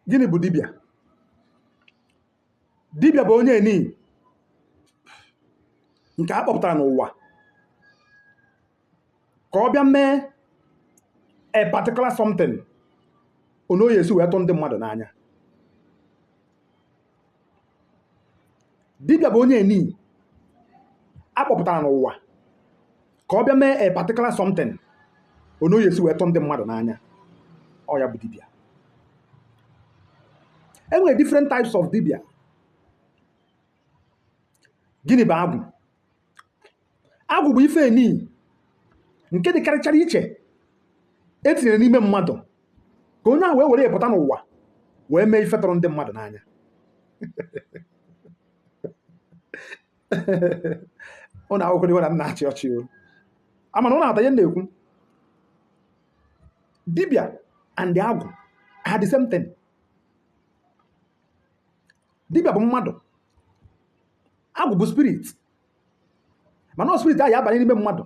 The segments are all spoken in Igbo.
gịnị bụ dibịa dibịa bụ onye nii nke a kpọpụtara n'ụwa ka ọ bịa mee a particular something ono ọ ya-esi wee tụ ndị mmadụ n'anya dibịa bụ onye nii a kpọpụtara n'ụwa ka ọ bịa mee a particular something ono ọ ya-esi wee tụ ndị mmadụ n'anya ọ ya bụ dibịa e nwere different types of dibịa gịnị bụ agwụ agwụ bụ ife nii nke dịkarịchara iche e tinyere n'ime mmadụ ka onye ahụ wee were ya pụta n'ụwa wee mee ife tụrụ ndị mmadụ n'anya ụnụ ewekwana iwe na m na-achị ọchị o ama m na ụnụ awọta ihe m na-ekwu dibịa and agwụ are the same thing dibịa bụ mmadụ agwụ bụ spirit mana ọ spirit ahụ ya-abanye n'ime mmadụ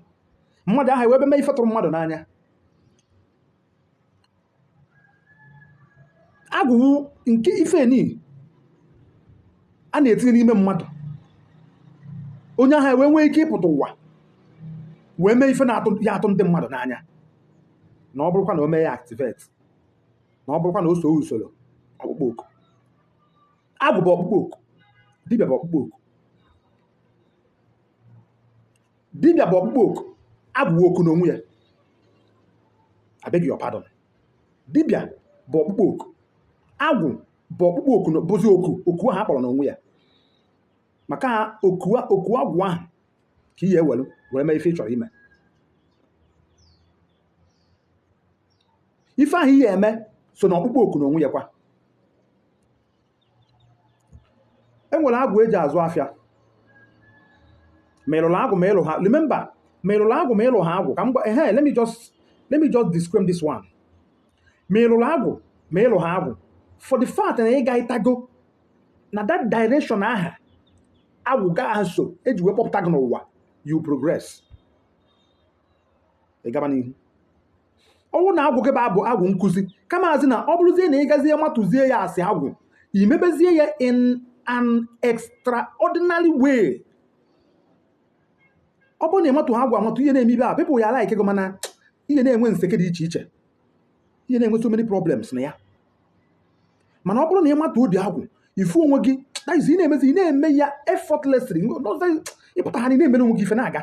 mmadụ ahụ ewee bịa mee ife tụrụ mmadụ n'anya agwụ bụ nke ife nii a na-etinye n'ime mmadụ onye ahụ ewee nwee ike ịpụta ụwa wee mee ife ya-atụ ndị mmadụ n'anya na ọ bụrụkwa na o mee ya activate na ọ bụrụkwa na o soo usoro ọkpụkpọ oku agwụ bụ ọkpụkpọ oku dibịa bụ ọkpụkpọ oku dibịa bụ ọkpụkpọ oku agwụ bụ oku n'onwe ya I beg your pardon dibịa bụ ọkpụkpọ oku agwụ bụ ọkpụkpọ oku na- bụzi oku oku ahụ a kpọrọ n'onwe ya maka na oku a- oku agwụ ahụ ka ị ya-ewelu were mee ife ị chọrọ ime ife ahụ ị ya-eme so na ọkpụkpọ oku n'onwe ya kwa e nwere agwụ e ji azụ afịa ma ị lụrụ agwụ ma ị lụha remember ma ị lụrụ agwụ ma ị lụha agwụ ka m gwa ehe let me just let me just describe this one ma ị lụrụ agwụ ma ị lụha agwụ for the fact na ị gatago na that direction aha agwụ gị aha so e ji wee kpọpụta gị n'ụwa you progress ị gaba n'ihu ọ bụrụ na agwụ gị bụ abụ agwụ nkụzi kamazi na ọ bụrụzie na ị gazie matazie ya as agwụ ị mebezie ya in an extraordinary way ọ bụrụ na ị mataha agwụ amata ị ya na-eme ibe a pepụ ya ala ike gị mana ị ya na-enwe nseke dị iche iche ị ya na-enwe so many problems na ya mana ọ bụrụ na ị mata ụdị agwụ ị fụ onwe gị that is ị na-emezi ị na-eme ya effortlessly ịpụta ha na ị na-emere onwe gị ife na-aga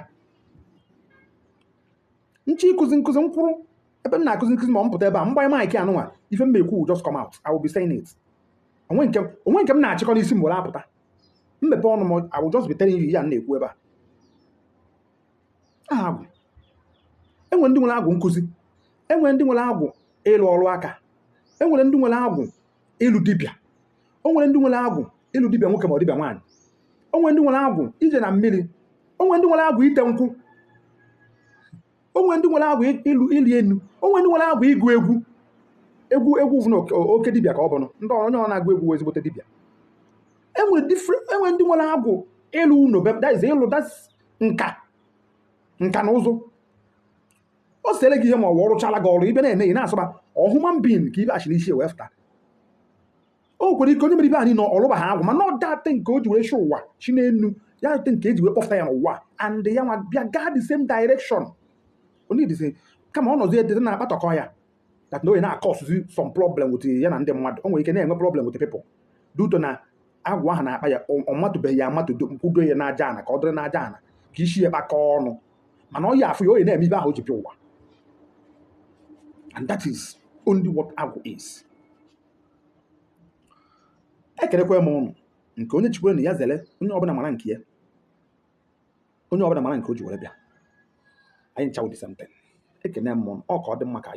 nche ịkụzi nkụzi m kwụrụ ebe m na-akụzi nkụzi ma ọ m pụta ebe a m gbanye maịkị anụnwa ife m na-ekwu will just come out I will be saying it o nwe nke m- o nwe nke m na-achịkọ n'isi m were apụta m mepe ọnụ m I will just be telling you ya m na-ekwu ebe a aha agwụ enwere ndị nwere agwụ nkụzi enwere ndị nwere agwụ ịlụ ọrụ aka enwere ndị nwere agwụ ịlụ dibịa o nwere ndị nwere agwụ ịlụ dibịa nwoke ma ọ dibịa nwaanyị o nwere ndị nwere agwụ ije na mmiri o nwere ndị nwere agwụ ite nkwụ o nwere ndị nwere agwụ ịlụ ịlị enu o nwere ndị nwere agwụ ịgụ egwu egwu egwu bụ na oke- oke dibịa ka ọ bụ na onye na-agụ egwu wụ ezigbote dibịa enwere different enwere ndị nwere agwụ ịlụ ụlọ be- that is ịlụ that's nka nka na ụzụ ọ sere gị ihe ma ọ wụrụchala gị ọrụ ife na-eme ị na-asọba ọ human being ka ibe achị n'isi wee fụta o nwere ike onye mere ife anyị nọ ọlụba ha agwụ mana ọ that nke o ji wee chụ ụwa chi n'elu ya that nke eji wee kpọfụta ya n'ụwa and ya nwa bịa gaa the same direction ọ na-adị easy kama ọ nọzi edete na-akpatọkọ ya that na onye na-ecausezi some problem with ya na ndị mmadụ o nwere ike na-enwe problem with people due to na agwụ ahụ na-akpa ya ọ ọ matụbeghị ya amatụ do- kwudo ya n'aja ana ka ọ dịrị n'aja ana ka isi ya kpakọọ ọnụ mana ọ ya afụ ya onye na-eme ife ahụ o ji bịa ụwa and that is only what agwụ is ekenekwa m ụnụ nke onye chikwere nya zere onye ọbụla mara nke ya onye ọbụla mara nke o ji were bịa anyị ncha awọ the same thing ekene m ụnụ ọ ka ọ dị mma ka anyị